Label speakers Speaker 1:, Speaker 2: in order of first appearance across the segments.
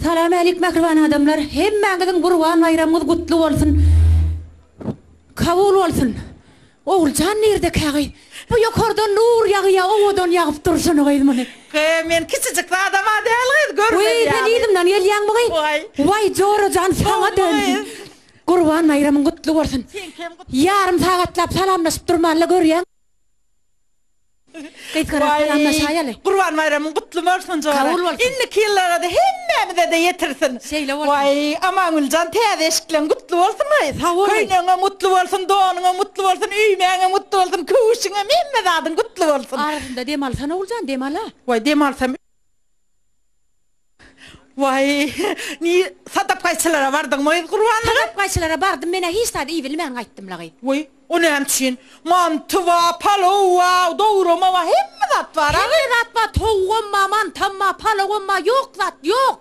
Speaker 1: Salam älik mähriban adamlar hemmäňiziň gurban baýramyňyz gutly bolsun kabul bolsun Oguljan nirde kägi bu ýokardan nur ýagýa owadan ýagyp dur şony gyz muny. Gyy men kiçijik
Speaker 2: zadama däl gyz görmeli ýaly. Gyy sen yzymdan
Speaker 1: gelýäňmi gyy waý jorajan saňa döndüm gurban baýramyň gutly bolsun ýarym sagatlap salamlaşyp durmala görýäň. Gysgarak
Speaker 2: salamlaşaýaly. Gurban baýramyň gutly bolsun Jora. Kabul bolsun. Indiki ýyllarada hemmämize-de ýetirsin. Şeýle bolsun. Waý, Amangüljan täze eşikleň gutly bolsun waý. Sag boluň. Köýnegiňem gutly bolsun, donuňam gutly bolsun, öýmäňem gutly bolsun, köwüşiňem hemme zadyň gutly bolsun. Arasynda dem alsana
Speaker 1: Oguljan, dem al-a. Waý, dem alsam.
Speaker 2: Waý, ni, sadapgaýçylara bardyňmy gyz gurbanlyga? Sadapgaýçylara bardym,
Speaker 1: men-ä hiç zady iýbilmän gaýtdym-la gyz. Waý, o näme üçin?
Speaker 2: Manty bar, palow bar, dograma bar, hemme zat bar-a gyz. Hemme zat bar, towugam
Speaker 1: bar, mantam bar, palowam bar, ýok zat, ýok.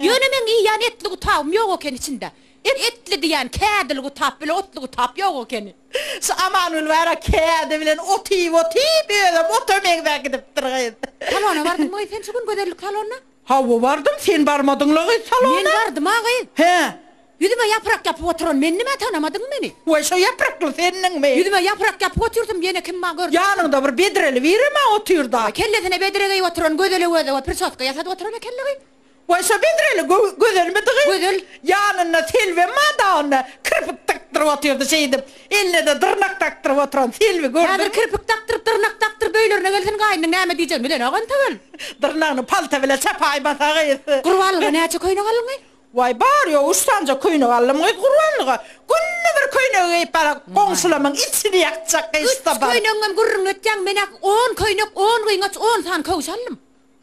Speaker 1: Ýöne meň iýýän etli gutagym ýok eken içinde. Et etli diýýän kädili gutap bile otly gutap ýok ekeni. Şu Amangül
Speaker 2: bara kädi bilen ot iýip otyp özem ota meňzäp gidipdir gyz. Salona bardyňmy gyz
Speaker 1: sen şu gün gözellik salonyna? Hawa bardym
Speaker 2: sen barmadyňla gyz salona. Men bardym-a gyz.
Speaker 1: Hä.
Speaker 2: Ýüzüme ýaprak
Speaker 1: ýapyp oturan mendimä tanamadyňmy meni? Waý şo ýaprakly
Speaker 2: sendiňmi? Ýüzüme ýaprak ýapyp otyrsym
Speaker 1: diýene kim bar gördiňmi? Ýanyňda bir bedreli
Speaker 2: birem-ä otyrda. Kellesine bedre geýip
Speaker 1: oturan gözele göze we prisoska ýasadyp oturan ekeni gyz. Waý, şo bedreli
Speaker 2: gözelmidigy? Gözel ýanynda
Speaker 1: Selbi
Speaker 2: madawynda kirpik dakdyryp otyrdy. Şeýdip, eline-de dyrnak dakdyryp oturan Selbi gördümi? Häzir kirpik dakdyryp,
Speaker 1: dyrnak dakdyryp öýlerine gelsin, gaýnynyň näme diýjegini bilenok entegel. Dyrnagyny palta
Speaker 2: bilen çapaýmasa gyz. Gurbanlyga näçe
Speaker 1: köýnek aldyňy? Waý, bary-ýogy
Speaker 2: üç sanja köýnek aldym gyz Gurbanlyga. Günde bir köýnegi geýip barak, goňşulamyň içini ýakjak gyşda bar. Üç köýnegiňem gürrüňi
Speaker 1: etýäň, men-ä on köýnek, on gyňaç, on sany köwş aldym.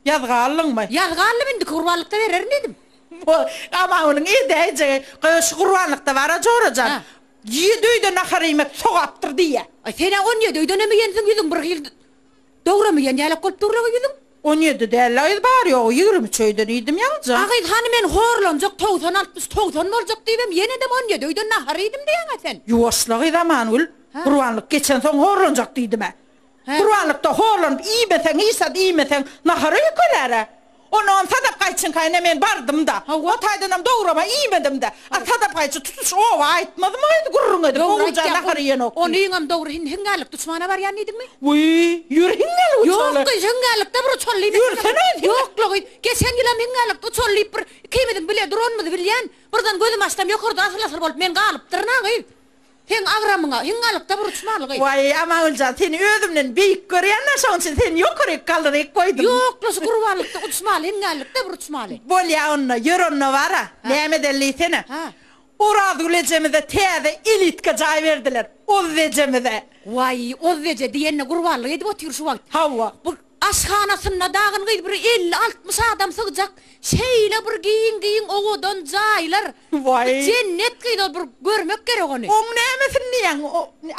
Speaker 1: Ýazgy aldyňmy?
Speaker 2: Ýazgy aldym, indiki
Speaker 1: gurbanlykda bererin diýdim. Bo, aman
Speaker 2: onuň edäýjegi, Gaý, şu gurbanlykda bar-a, Jora jan, ýedi öýde nahar iýmek sogapdyr diýýä. Aý, sen-ä on ýedi
Speaker 1: öýdenem iýensiň, ýüzüň bir hil dogrum iýen ýalak bolup dur-la ýüzüň. On ýedi däl-le
Speaker 2: gyz, bary-ýogy ýigrimi üç öýden iýdim ýaňja. A gyz, hany men
Speaker 1: horlanjak, togsan altmyş, togsan boljak diýibem, ýenedem on ýedi öýden nahar iýdim diýýäň-ä sen. Ýuwaş-la gyz, Amangül,
Speaker 2: gurbanlyk geçensoň horlanjak diýdim-ä. Gurbanlykda horlanyp iýmeseň, işat iýmeseň, nahara ýükelär-ä. Onam Sadap gaýçyňkaýyna men bardym-da. O taýdanam dograma iýmedim-dä. A Sadap gaýçy tutuş oba aýtmadymy gaýdy gürrüň edip, Oguljan nahar iýenok diýip. Ony iňem dogry hindi
Speaker 1: hiňňällik duşmana barýan diýdiňmi? Wiý, ýör
Speaker 2: hiňňällik uçaly. Ýok gyz, hiňňällikde bir
Speaker 1: uçaly diýmek bilen. Ýörsene gyz hiňňä. Ýok-la gyz, geçen ýylam hiňňällikde uçaly diýip bir ikimiziň bile duranymyzy bilýän, birden gözüm açsam ýokarda asyl-asyl bolup men galypdyryn-a gyz. Seň agramyňa hiňňalykda bir uç bar gyz. Waý Amagüljan
Speaker 2: seni özümden beýik görýända şoň üçin seni ýokaryk galdyryk goýdum. Ýokla şu gurbanlykda
Speaker 1: uç maly hiňňalykda bir uç maly. Bolýa onda ýör
Speaker 2: onda bara näme eden diýsene. Orazgül ejemize täze elitka jaý berdiler Oz ejemize. Waý Oz
Speaker 1: eje diýende gurbanlyk edip otyr şu wagt. Hawa.
Speaker 2: Aşhanasynda
Speaker 1: dagyn gyz bir elli-altmyş adam sygjak şeýle bir giň-giň owadan jaýlar. Waý. Bu jennet
Speaker 2: gyz ol
Speaker 1: bir görmek gerek ony. Oň nämesini diýýäň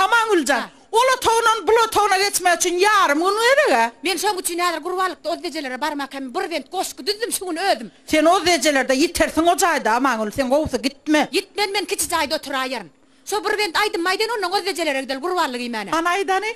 Speaker 2: Amangüljan. Ol otagyndan bul otagyna geçmek üçin ýarym gün gerek-ä. Men şoň üçin häzir
Speaker 1: gurbanlykda oz ejelere barmak hem bir bent goşgy düzdüm şu gün özüm. Sen oz ejelerde
Speaker 2: ýitersiň o jaýda Amangül sen gowusy gitme. Gitmen men kiçi jaýda
Speaker 1: oturaýaryn. Şo bir bent aýdym aýdaýyn ondan oz ejelere gideli gurbanlyk iýmäne. Hany aýdany.